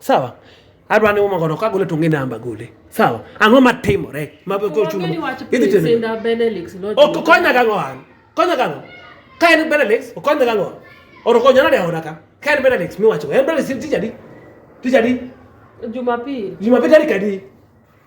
Sawa. Adwa ni umakono ka gole tunge namba gole. Sawa. Ang'o matimore? Mabe ko chuno. Idhi tene. Sinda Benelix no. Ok konya ga ng'wan. Konya ga ng'wan. Ka en Benelix, okonya ga ng'wan. Oro konya na de oda ka. Ka en Benelix mi wacho. En Benelix tijadi. Tijadi. Jumapili. Jumapili tarik adi?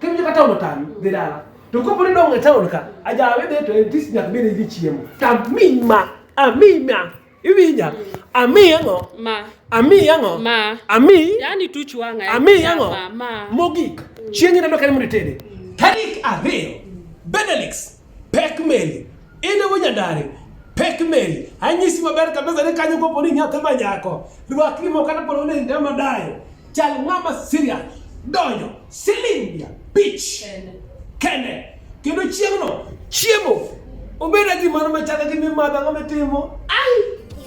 Kendo joka taon otami, dhi dala. To kopo ni dong' e taon ka, ajawe dhi to en tich nyaka bed ni chiemo. Tami ma, ami ma, iwinja. Ami ang'o? Ma. Ami ang'o? Ma. Ami. Yaani tuch wang'a. Ami ang'o? Ma. Mogik. Chieng' ineno kane mondo itede. Tarik ariyo, Benelix Pek meli. Ine wo nyandare. Pek meli. Anyisi maber kabisa ni kanyo kopo ni nyathi ma nyako. Rwakni mo kata polo ni ndama dayo. Chal ng'ama siria. Donyo. Silindia. Pitch. Kende. Kendo chieng'no. Chiemo. Obeda gimoro machalo gi mimadho ang'o mitimo. Ai.